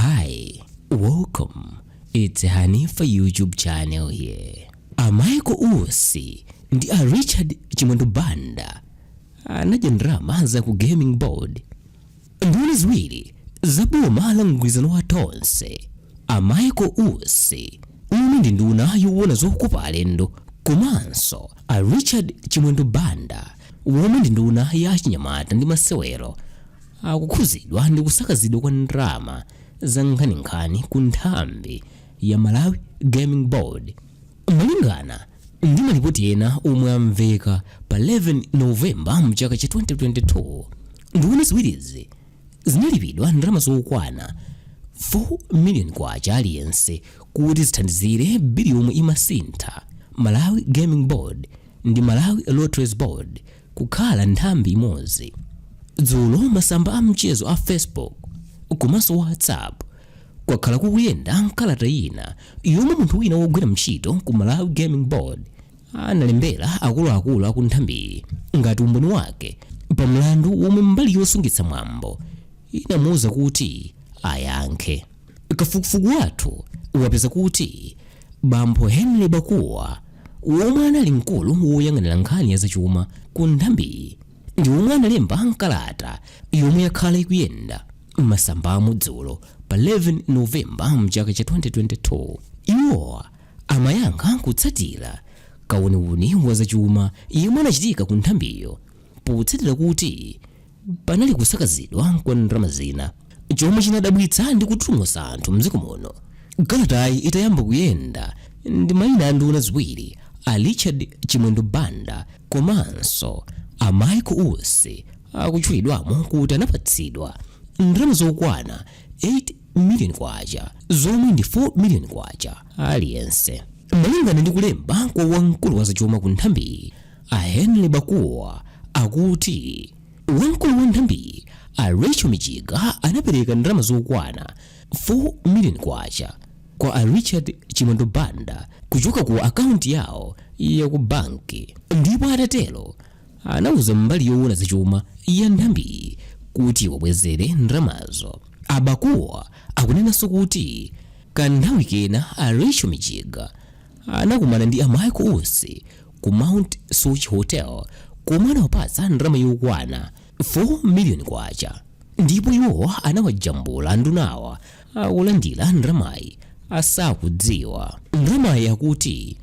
Hi, welcome. It's Hanifa YouTube channel here. A Michael Usi ndi a Richard Chimwendo Banda anadya ndalama za ku gaming board. Nduna ziwiri zaboma la mgwirizano wa Tonse. A Michael Usi omwe ndi nduna yowona zokopa alendo komanso a Richard Chimwendo Banda omwe ndi nduna ya achinyamata ndi masewero akukhudzidwa ndi kusakazidwa kwa ndalama za nkhaninkhani ku nthambi ya Malawi Gaming Board. Malingana ndi malipoti ena omwe amveka pa 11 Novemba mchaka cha 2022, nduna ziwirizi zinalipidwa ndalama zokwana 4 million kwacha aliyense kuti zithandizire bili yomwe imasintha Malawi Gaming Board ndi Malawi Lotteries Board kukhala nthambi imodzi. Dzulo masamba a mchezo a Facebook komanso WhatsApp kwakhala kukuyenda nkalata ina yomwe munthu wina wogwira ntchito ku Malawi Gaming Board analembera akuluakulu aku nthambiyi ngati umboni wake pa mlandu womwe mbali yosungitsa mwambo inamuwuza kuti ayankhe. Kafukufuku wathu wapeza kuti bambo Henry Bakuwa womwe anali mkulu woyang'anira nkhani ya zachuma ku nthambiyi ndi womwe analemba nkalata yomwe yakhala ikuyenda m'masambamu dzulo pa 11 novemba mchaka cha 2022 iwowa amayankha kutsatira kawuniwuni wa zachuma yemwe anachitika ku nthambiyo potsatira kuti panali kusakazidwa kwa ndalama zina chomwe chinadabwitsa ndi kututumutsa anthu mdziko muno kalatayi itayamba kuyenda ndi mayina a nduna ziwiri a richard chimwendo banda komanso a michael usi akutchulidwamo kuti anapatsidwa ndalama zokwana 8 miliyoni kwacha zomwe ndi 4 miliyoni kwacha aliyense malingana ndi kulemba kwa wamkulu wa zachuma ku nthambiyi A Henry Bakuwa akuti wamkulu wa nthambiyi a Rachel Mijiga anapereka ndalama zokwana 4 million kwacha kwa a Richard Chimwendo Banda kuchoka ku akaunti yawo ya ku banki ndipo atatero anauza mbali yoona zachuma ya nthambiyi kuti awabwezere ndalamazo. A Bakuwa akunenanso kuti kanthawi kena a Rachel Mijiga anakumana ndi a Michael Usi ku Mount Soche Hotel komwe anawapatsa ndalama yokwana 4 miliyoni kwacha ndipo iwo anawajambula andunawa akulandira ndalamayi asakudziwa. Ndalamayi akuti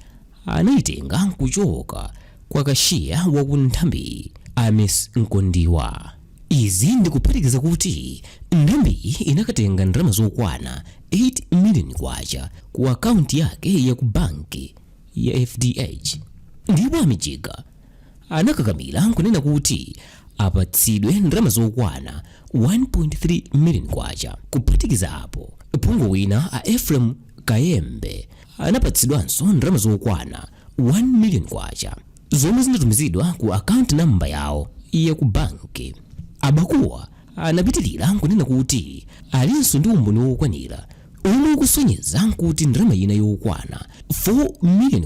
anayitenga nkuchoka kwa kashiya wa ku nthambiyi a Miss Mkondiwa. Izi ndikuphatikiza kuti nthambiyi inakatenga ndalama zokwana 8 miliyoni kwacha ku akaunti yake ya ku banki. ya FDH ndipo a Mijiga anakakamira nkunena kuti apatsidwe ndalama zokwana 1.3 million kwacha. Kuphatikiza apo, phungu wina a Ephraim Kayembe anapatsidwanso ndalama zokwana 1 million kwacha zomwe zinatumizidwa ku akaunti namba yawo ya ku banki. A Bakuwa anapitirira nkunena kuti alinso ndi umboni wokwanira omwe ukusonyeza kuti ndalama ina yokwana K4 million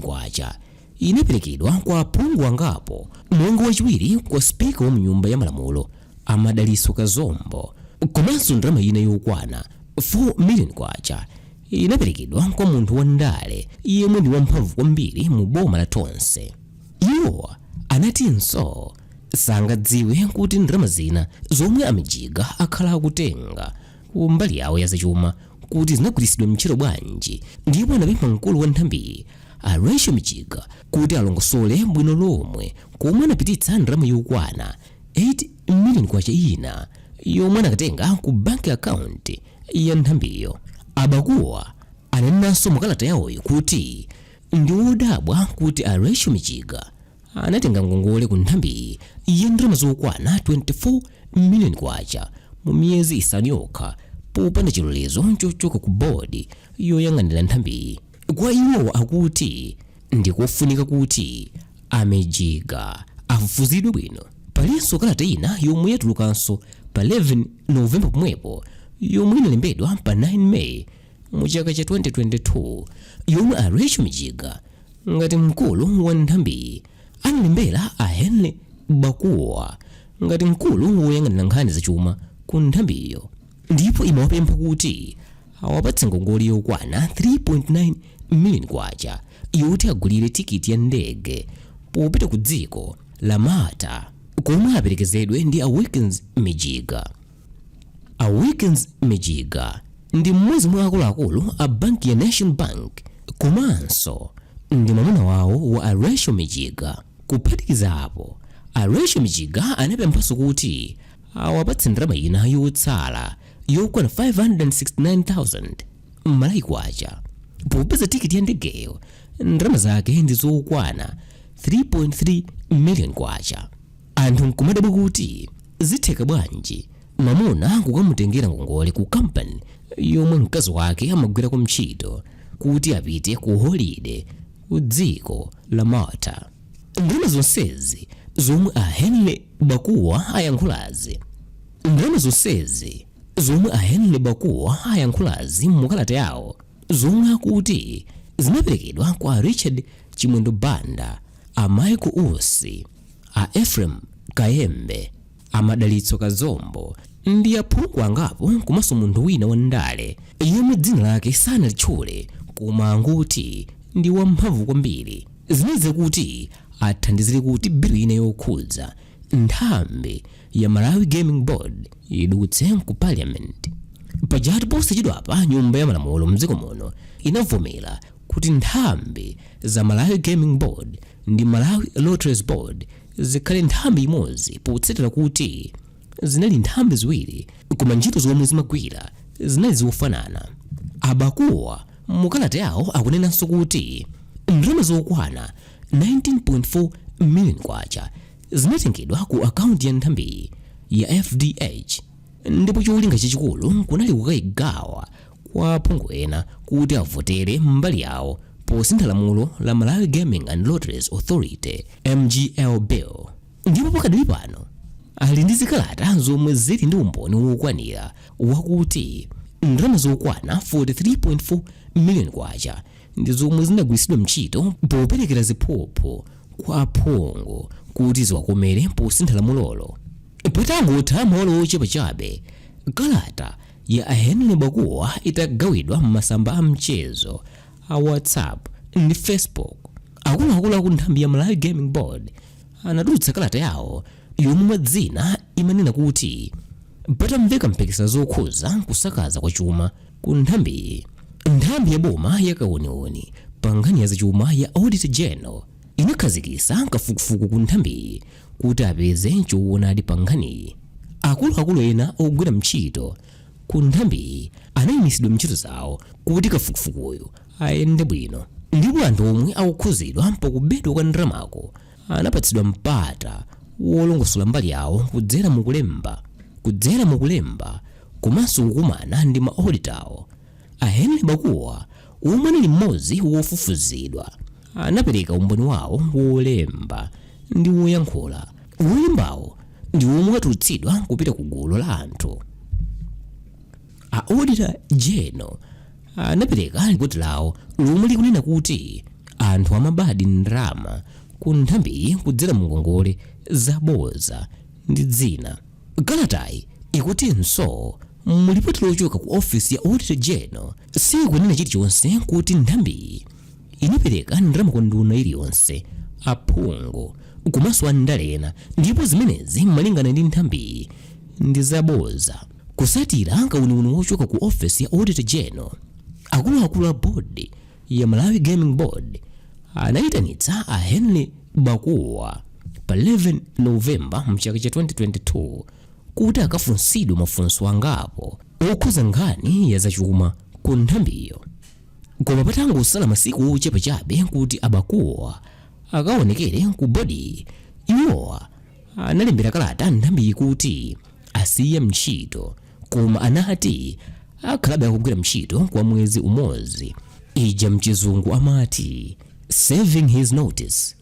inaperekedwa kwa aphungu angapo monga wachiwiri kwa Speaker wa mnyumba ya malamulo a Madalitso Kazombo komanso ndalama ina yokwana K4 million inaperekedwa kwa munthu wa ndale yemwe ndi wamphamvu kwambiri mu boma la Tonse. Iwo anatinso sangadziwe kuti ndalama zina zomwe a Mijiga akhala akutenga ku mbali yawo ya zachuma kuti zinagwiritsidwa ntchito bwanji ndipo anapempha mkulu wa nthambiyi a Rachel Mijiga kuti alongosole bwino lomwe komwe anapititsa ndalama yokwana 8 million kwacha ina yomwe anakatenga ku bank account ya nthambiyo a Bakuwa ananenanso mukalata yawoyi kuti ndi wodabwa kuti a Rachel Mijiga anatenga ngongole ku nthambiyi ya ndalama zokwana 24 miliyoni kwacha mu miyezi isanu yokha popanda chilolezo chochoka ku bodi yoyang'anira nthambiyi kwa iwo akuti ndikofunika kuti a mijiga afufuzidwe bwino palinso kalata ina yomwe yatulukanso pa 11 novemba pomwepo yomwe inalembedwa pa 9 meyi mu chaka cha 2022 yomwe a rachel mijiga ngati mkulu wa nthambiyi analembera a henry bakuwa ngati mkulu woyang'anira nkhani zachuma ku nthambiyo ndipo imawapempha kuti awapatse ngongole yokwana 3.9 million kwacha yoti agulire tikiti ya ndege popita ku dziko la malta komwe aperekezedwe ndi a wilkins mijiga A Wilkins Mijiga ndi mmodzi mwa akuluakulu a banki ya National Bank komanso ndi mwamuna wawo wa a Rachel Mijiga. Kuphatikiza apo, a Rachel Mijiga anapemphanso kuti awapatse ndalama ina yotsala yokwana 569,000 Malawi Kwacha popeza tikiti ya ndegeyo ndalama zake ndi zokwana 3.3 million Kwacha. Anthu nkumadabwa kuti zitheka bwanji mamuna kukamutengera ngongole ku kampani yomwe mkazi wake amagwirako mtchito kuti apite ku holide ku dziko la Malta. Ndalama zonsezi zomwe a Henry Bakuwa ayankhulazi Ndalama zonsezi zomwe a Henry Bakuwa ayankhulazi mu kalata yawo zomwe akuti zinaperekedwa kwa a Richard Chimwendo Banda, a Michael Usi, a Ephraim Kayembe, a Madalitso Kazombo ndi aphungu angapo komanso munthu wina wandale yemwe dzina lake sanalitchule koma angoti ndi wamphamvu kwambiri zinali za kuti athandizire kuti bilu ina yokhudza nthambi ya Malawi Gaming Board idutse ku parliament pajatu posachedwapa nyumba ya malamulo mdziko muno inavomera kuti nthambi za Malawi Gaming Board ndi Malawi Lotteries Board zikhale nthambi imodzi potsatira kuti zinali nthambi ziwiri koma ntchito zomwe zimagwira zinali zofanana. A Bakuwa mukalata yawo akunenanso kuti ndalama zokwana 19.4 million kwacha zinatengedwa ku akaunti ya nthambiyi ya FDH ndipo cholinga chachikulu kunali kukayigawa kwa aphungu ena kuti avotere mbali yawo posintha lamulo la Malawi Gaming and Lotteries Authority MGL Bill ndipo pakadali pano ali ndi zikalata zomwe zili ndi umboni wokwanira wakuti ndalama zokwana 43.4 million kwacha ndi zomwe zinagwiritsidwa ntchito poperekera ziphuphu kwa aphungu kuti ziwakomere posintha lamulolo patangotha maola ochepa chabe kalata ya a Henry Bakuwa itagawidwa m'masamba a mchezo a WhatsApp ndi Facebook, akuluakulu aku nthambi ya Malawi Gaming Board anatulutsa kalata yawo yomwe mwa zina imanena kuti patamveka mphekesa zokhuza kusakaza kwa chuma ku nthambiyi, nthambi ya boma ya kauniuni pa nkhani ya zachuma ya Auditor General inakhazikitsa kafukufuku ku nthambiyi kuti apeze choonadi pa nkhaniyi. Akuluakulu ena ogwira mchito ku nthambiyi anayimitsidwa mntchito zawo kuti kafukufukuyu ayende bwino ndipo anthu omwe akukhuzidwa pakubedwa kwa ndalamaku anapatsidwa mpata wolongosola mbali yawo kudzera mukulemba kudzera mukulemba komanso kukumana ndi ma auditor awo. A Henry Bakuwa, omwe anali mmodzi wa ofufuzidwa, anapereka umboni wawo wolemba ndi woyankhula. Wolembawo ndi womwe watulutsidwa kupita ku gulu la anthu. A Auditor General anapereka lipoti lawo lomwe likunena kuti anthu amabadi ndalama ku nthambiyi kudzera mu ngongole zabodza ndi dzina. Kalatayi ikutinso, Mu lipoti lochoka ku ofesi ya Auditor General sikunena chilichonse kuti nthambiyi inapereka ndalama ku nduna iliyonse, aphungu komanso andale ena ndipo zimenezi malingana ndi nthambiyi ndi zabodza. Kutsatira kauniuni wochoka ku ofesi ya Auditor General, akuluakulu a Board ya Malawi Gaming Board anayitanitsa a Henry Bakuwa pa 11 Novemba mchaka cha 2022 kuti akafunsidwe mafunso angapo okhuza nkhani ya zachuma ku nthambiyo. Koma patangosala masiku ochepa chabe kuti a Bakuwa akaonekere ku bodiyi, iwowa analembera kalata nthambiyi kuti asiya mntchito koma anati akhalabe akugwira mntchito kwa mwezi umodzi ija mchizungu amati serving his notice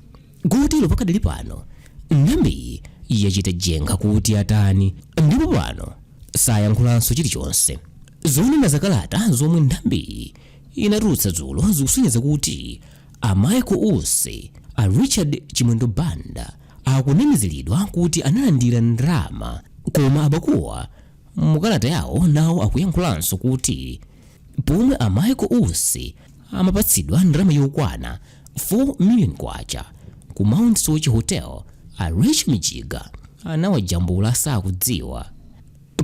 kotero pakadali pano nthambiyi yachita jenga kuti atani ndipo pano sayankhulanso chilichonse zonena zakalata zomwe nthambiyi inatulutsa dzulo zikusonyeza kuti a michael usi a richard chimwendo banda Akunamiziridwa kuti analandira ndalama koma a Bakuwa mukalata yawo nawo akuyankhulanso kuti pomwe a Michael Usi amapatsidwa ndalama yokwana 4 million kwacha ku Mount Soche Hotel, a Rachel Mijiga anawajambula asakudziwa.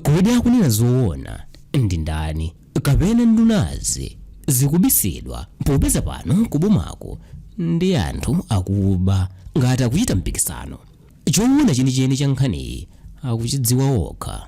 Kodi akunena zoona ndi ndani? kapena ndunazi zikubisidwa popeza pano kubomaku ndi anthu akuba ngati akuchita mpikisano. Choona chenicheni cha nkhaniyi akuchidziwa okha.